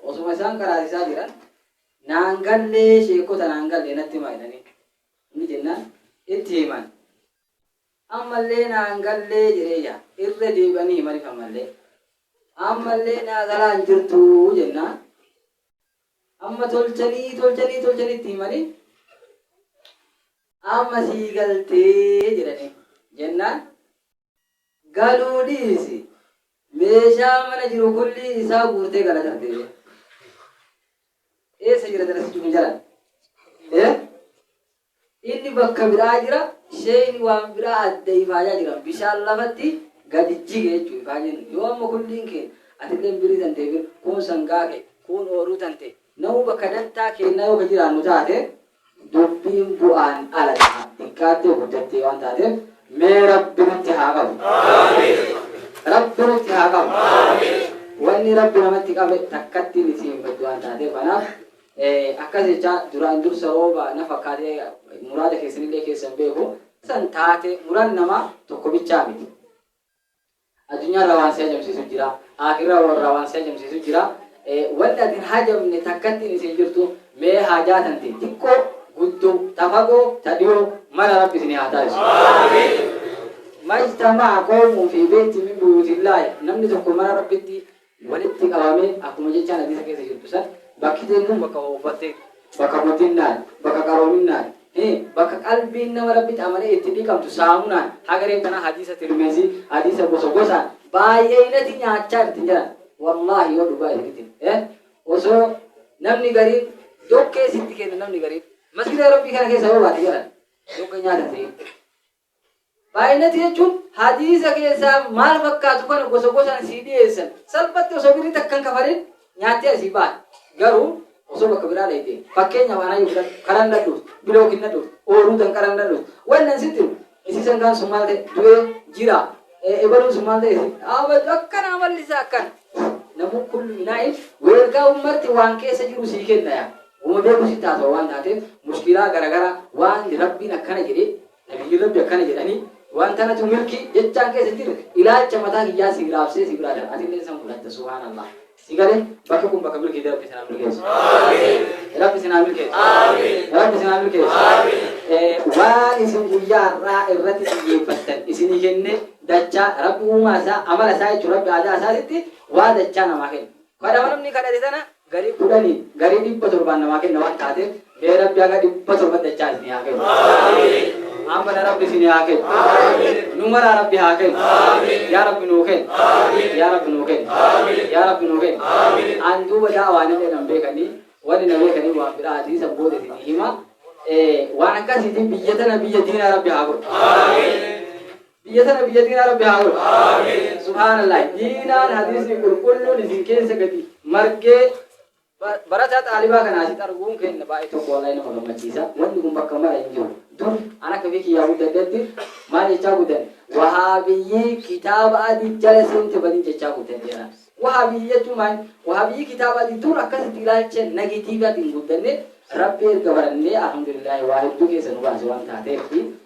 Osuma isaan qaraasisaa jiran naan gallee sheekkota naan gallee natti himaa jedhanii inni jennaan itti himan. Ammallee naan gallee jedhee yaa irra deebi'anii himaniif ammallee. Ammallee naa galaa hin jirtuu jennaan amma tolchanii tolchanii tolchanii itti himanii amma sii galtee jedhanii jennaan Galuu dhiisi! Meeshaa mana jiru kullii isaa guurtee gala darbee bee. Eessa jira darasichi kun jalaan? Eh? Inni bakka biraa jira, sheeyni waan biraa adda ifaajaa jira. Bishaan lafatti gadi jige jechuudha ifaajeen. Yoo amma kulliin keen atillee birii tante kuun sangaa kee, kuun ooruu tante. Namuu bakka dantaa keennaa yoo ka jiraannu taate Dubbiin bu'aan ala ta'a. Xiqqaattee guddattee waan taateef mee Rabbi nutti haa qabu. Rabbi nutti haa qabu. Wanni Rabbi namatti qabe takkatti inni ittiin hin baddu waan taateef kanaaf eh, akkas jechaa duraan dursa rooba na fakkaatee muraada keessanillee keessan beeku. San taate muran namaa tokko bichaa miti. Addunyaa irraa waan si hajamsiisu jira, Aakhiraa irraa waan si hajamsiisu jira. Wanni ati hin hajamne takkattiin isin hin jirtu. Mee haajaa tante xiqqoo, guddoo, ta fagoo, ta dhiyoo mara Rabbi isinii haa taasisu. Majtama'a, qoomuu fi beyti min buyuutillaahi, namni tokko mana Rabbitti walitti qabame akkuma jechaan hadiisa keessa jirtu san bakki deemnu bakka ooffatte bakka motinnaan bakka qaroominnaan hee bakka qalbiin nama rabbitti amanee itti dhiqamtu saamunaan hagareen tanaa hadiisa tirmizii hadiisa gosa gosaan baay'eeynati nyaachaa jirti jedhan wallaahi yoo dhugaa isinitti eh osoo namni gariin dokkee sitti kenna namni gariin masgida rabbii kana keessa yoo baate jedhan dokkee nyaata ta'e Baay'inati jechuun hadiisa keessaa maal fakkaatu kana gosa gosaan sii dhiyeessan. Salphatti osoo birrii takka hin kafalin nyaattee asii baata. Garuu osoo bakka biraa dhayxee fakkeenyaaf anaa yoo fudhadhu karan na dhufte, bilookin na dhufte, ooluu danqaran na dhufte. Wanni an sitti himu isii sangaan sun maal ta'e du'ee jira. Ebaluun sun maal ta'e abad akkana amalli isaa akkana. Namuu kullu inaa'in weelkaa'uun marti waan keessa jiru sii kenna yaa. Gootootu sitti haasawa waan taateef mushkilaa garagaraa waan Rabbiin akkana jedhe, Nabiyyiin Rabbi akkana jedhani, waan tanatu milki jechaan keessa hin jirre ilaalcha mataa kiyyaa sii raabsee si biraa darba atilleen san fudhatta subhaanallah. Si galee bakka kun bakka milkiiti Rabbi isin haa milkeessu. Rabbi isin haa milkeessu. Rabbi isin haa milkeessu. Eh, Waan isin guyyaa har'aa irratti xiyyeeffattan isinii kenne dachaa Rabbi uumaa isaa amala isaa jechuun Rabbi aadaa isaatitti waa dachaa namaa kenna. Kadhama namni kadhate sana Garii kudhani garii dhibba torbaan namaa kenna waan taatef mee rabbi haga dhibba torban dachaa isini haa kennu ammana rabbi isini haa kennu nu maraa rabbi haa kennu yaa rabbi nuu kenni yaa rabbi nuu kenni yaa rabbi nuu kenni an duuba da'awaanillee nan beekani wani na beekani waan biraati san booda isini hima waan akkasiitiin biyya tana biyya diinaa rabbi haa godhu Biyya tana biyya diinaa rabbi haa godhu. Aamiin. Subhaanallaah diinaan hadiisni qulqulluun isin keessa gadi margee barataa xaalibaa kana asitti arguun keenya baay'ee tokko wallahi nama gammachiisa. Wanni kun bakka mara hin jiru. Dur an akka fi kiyyaa guddadhetti maal jechaa guddan wahaabiyyii kitaaba adii jala seente badii jechaa guddan jedhan. Wahaabiyyii jechuun maal? Wahaabiyyii kitaaba adii dur akkasitti ilaalcha nagitiivatiin guddanne rabbi erga barannee alhamdulillah waa hedduu keessa nu baase waan taateef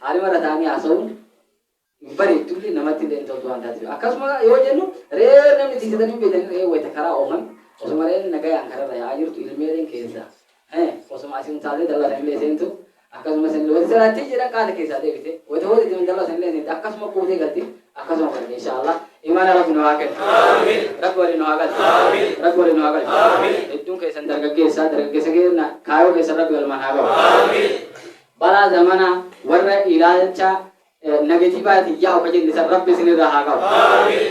Haala mara ta'anii haasa'uun hin bareeddulle namatti illee hin toltu waan taateef. Akkasuma yoo jennu re'ee namni tiksitanii hin beektan re'ee wayita karaa oofan osuma re'een nagayaan kararra yaa'aa jirtu ilmeeleen keessa. Osuma asiin taatee dallatan illee seentu akkasumas illee wayita siraattii jedhan qaata keessaa deebite wayita hojjetan dallatan illee seente akkasuma kuutee galti. akkasuma godhani inshaallah imaana rabbi nu haa kennu rabbi waliin nu haa galchu rabbi waliin nu haa galchu hedduun keessan dargaggeessa dargaggeessa keenya kaayoo keessan rabbi galmaan haa gahu balaa zamanaa warra ilaalcha eh, negatiivaatiin yaa'u ka jenne san rabbi isinirraa haa qabu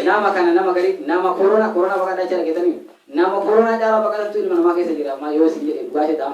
nama kana nama gari nama korona korona baqadhaa jala geetanii nama korona caalaa baqatantu ilma namaa keessa jira amma yoo isin jedhe dhugaa jedhaa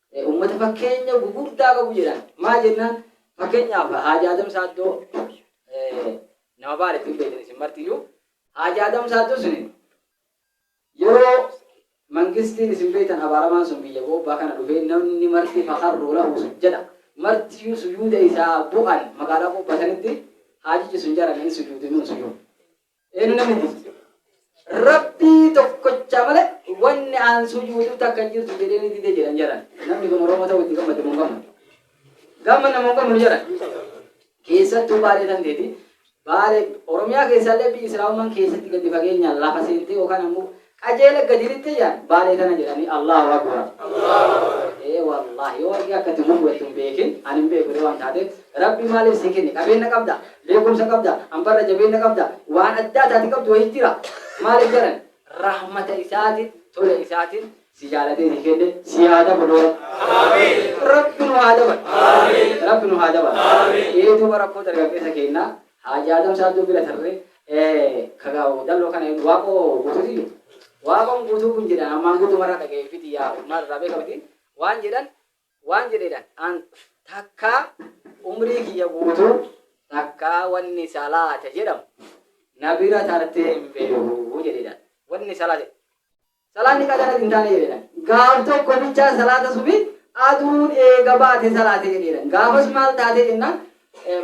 Uummata fakkeenya gugurdaa qabu jedhan. Maa jennaan fakkeenyaaf Haaji Adam Saaddoo nama baara ittiin beektan isin martiyyuu Haaji Adam Saaddoo sun yeroo mangistiin isin beektan abaaramaan sun biyya goobbaa kana dhufee namni marti fakarruu lahu sun jedha. Martiyyuu sujuuda isaa bu'an magaalaa goobbaa sanitti haajichi sun jara hin sujuude nun sujuude. Eenu namni jirti. Rabbii tokkocha malee wanni aan sujuudu takka hin jirtu jedhee ni dide jedhan jedhan. Namni kun Oromoo ta'uu itti gammade mun gammadu. Gamma namun gammadu jedhan. Keessattuu baalee kan ta'eeti. Baalee Oromiyaa keessaallee biyyi Islaamummaan keessatti gadi fageenyaan lafa seentee yookaan ammoo Qajeela gadi lixxe jaan baalee tana jedhani Allahu Akubar. Ee wallahi yoo warqii akka itti gubu ittin beekin ani hin beeku illee waan taateef rabbi maalif si kenne qabeenna qabda beekumsa qabda ambarra jabeenna qabda waan addaa taati qabdu wayii jira maalif jedhan rahmata isaatin tola isaatin si jaalatee si kenne si haa dabalu rabbi nu haa dabalu rabbi nu haa dabalu ee duuba rakkoo dargaggeessa keennaa Haajaa Adam Saaddoo bira tarree kaga dalloo kana hin waaqoo guutuuti jirtu. Waaqoon guutuu kun jedhan ammaan guutuu marraa dhaga'ee fiti yaa marraa beeka miti waan jedhan waan jedheedhan an takkaa umrii kiyya guutuu takkaa wanni salaata jedhamu na bira tartee hin beeku jedheedhan wanni salaata Salaanni qadaras hin taane jedhan. Gaaf tokko bichaa salaata subii aduun eega baate salaate jedheedhan. Gaafas maal taate jennaan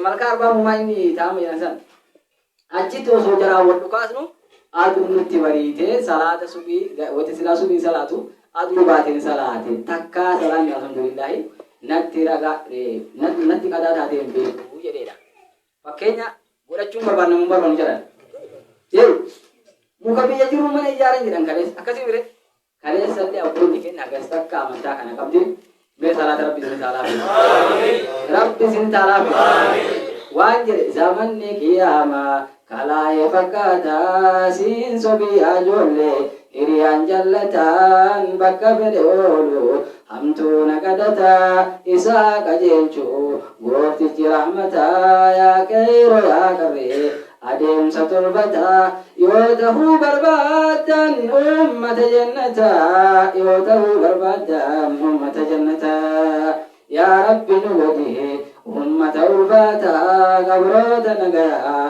malkaa arbaa mumaa inni taa'amu jedhan san. Achitti osoo jaraan wal dhukaasnu aduun nutti bariite salaata subii wati silaa subii salaatu aduu baateen salaate takkaa salaanni alhamdulillaahi natti raga natti qadaa taatee hin beeku jedheedha. Fakkeenya godhachuun barbaanna hin barbaannu jedhan. Jedhu muka biyya jiru mana ijaaran jedhan kaleessa akkasii mire kaleessa illee abboonni keenya hagas takka amantaa kana qabdi mee salaata rabbi isin taalaafi rabbi isin taalaafi waan jedhe zamanni qiyaamaa kalaa'ee fakkaata siin sobii ajoollee hiriyaan jallataan bakka fedhe oolu Hamtuu na qadataa isaa qajeelchu Gooftichi rahmataa Yaa qeeyroo yaa qarree adeemsa tolfataa Yoo tahuu barbaaddan ummata jannataa Yoo tahuu barbaaddan ummata jannataa Yaa Rabbi nu godhi ummata ulfaataa Gabroota nagayaa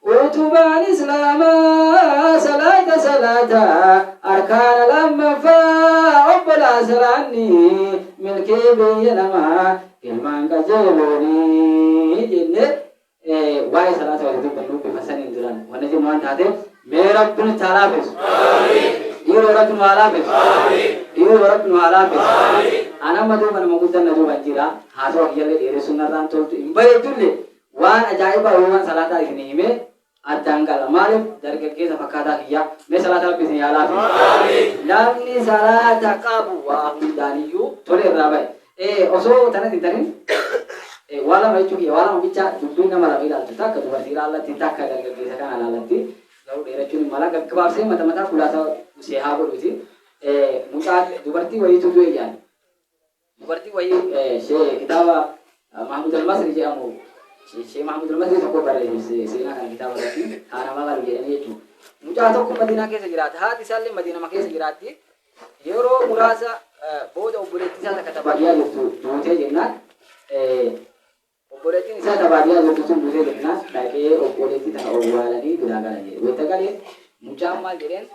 Utubaan Islaamaa salaata salaata arkaana lammaffaa obbolaa salaanni milkii biyya namaa ilmaan qajeelooni jenne waa'ee salaata wayita dubbannu bifa saniin duraan wanna jennu waan taateef mee rabbi nutti haa laafessu dhiiroo rabbi nu haa laafessu dhiiroo rabbi nu haa laafessu an amma duuba nama guddan na duuban jira haasawa kiyyallee dheeressuun narraan toltu hin bareeddullee Waan ajaa'ibaa Yihowaan salaataa isinii himee addaan qala. Maaliif dargaggeessa fakkaataa kiyyaa? Mee salaata Rabbii isinii haa laafisu. Namni salaata qabu waa hundaan iyyuu tolee irraa baya. Ee, osoo tanas hin tanin, ee, waa lama jechuu kiyya, waa lama bicha, dubbiin nama lama ilaaltu, takka dubartii ilaallatti, takka dargaggeessa kana ilaallatti, garuu dheerachuun hin mala, gaggabaabsee mata mataa khulaasa usee haa godhuuti. Ee, mucaa, dubartii wayiitu du'e jedhan. Dubartiin wayii Shee kitaaba Mahmud al-Masri jedhamu Shee Mahmud al-Masri tokko barreesse seenaa kana kitaaba irratti haana maqalu jedhanii jechuudha. Mucaa tokko Madiinaa keessa jiraata. Haati isaallee Madiinama keessa jiraatti. Yeroo muraasa booda obboleettii isaa takka tabaadiyyaa jirtu duutee jennaan Obboleettiin isaa ta baadiyaa jirtu sun duutee jennaan, dhaqee obboleettii tana owwaalanii biraa galan jedhe. Wayta gale mucaan maal jedheen,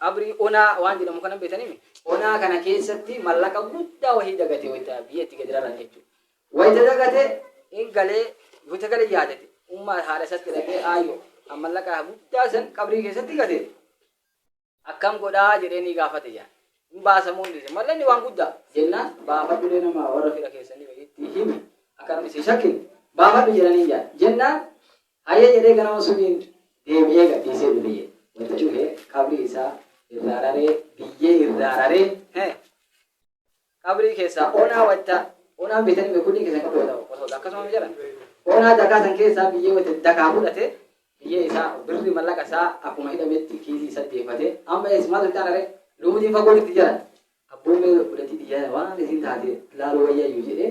qabrii onaa waan jedhamu kana hin beeytaniimi? Onaa kana keessatti mallaqa guddaa wahii dagate wayta biyya itti gadi raran jechuudha. Wayta dagate hin galee, wayta gale yaadate, ummaa haadha isaatti dhaqee, aayyo, an mallaqa guddaa san qabrii keessatti gate. Akkam godhaa jedhee ni gaafate jedhan. Hin baasamuu hin dhiise. Mallanni waan guddaa jennaan baafadhulee nama warra fira keessanii wayiitti himi akka namni si shakkin baafadhu jedhanii jedhan. Jennaan hayyee jedhee ganama suniin deebi'ee gadhiisee dhufe jedhe. Wanta cufee qabrii isaa irraa raree biyyee irraa raree qabrii keessaa onaa watta onaan beetan hime kunii keessan qabri watta qosoota akkasuma jala onaa dakaa san keessaa biyyee watta dakaa fudhate biyyee isaa birri mallaqa isaa akkuma hidhametti kiisii isa deefate amma ees maal itti anare lubutiin fagoo itti jala abboomee godhatii biyyaa waan isin taate laaluu wayyaayyu jedhee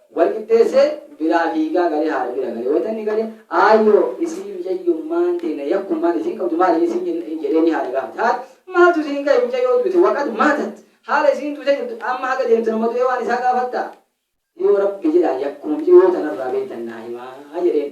Wal qixxeessee biraa fiigaa galee haadha bira gale. Wayita inni gale Aayyoo isii micayyummaan teena yakkummaan isiin qabdu maali isiin jenna in jedheenii haadha gaafate. Haadha maaltu isiin gahe micayyoo duute waqad maatat haala isiin duute jirtu amma haga deemtu nama du'ee waan isaa gaafattaa? Yoo Rabbi jedhaan yakkuma micayyoo tanarraa beeytan naa himaa jedheen.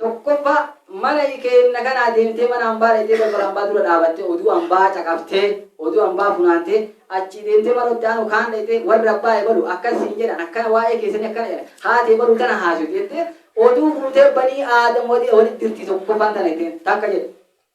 1ffaa Mana keenna kanaa deemtee mana ambaa dhayxee balbala ambaa dura dhaabattee oduu ambaa caqaftee oduu ambaa funaantee achii deemtee mana itti aanu kaan dhayxee warri abbaa ebalu akkas siin jedhan akkana waa'ee keessanii akkana jedhan haati ebalu tana haasofti jettee oduu fuutee banii aadam walitti dirti 1ffaan tana jetteen takka jedhe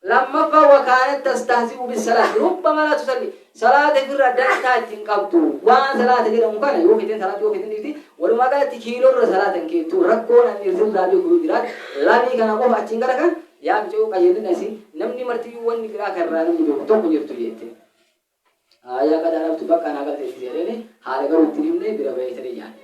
2ffaa wakaanat tastahzi'u bissalaati rubba malaa tusalli salaata ifirraa dantaa itti hin qabdu waan salaata jedhamu kana yoo feten salaata yoo feten dhiifti walumaa galatti kiilorra salaata hin keettu rakkoon ani irraa beeku yoo jiraate lamii kana qofa achiin gara kan yaa micayuu qayyadina isin namni martiyyuu wanni biraa kan irraa namni beeku tokko jirtu jette aayaa qadaa dhabtu bakka naa galteessi jedheen haala garuu ittiin himne bira ba'ee siree nyaadhe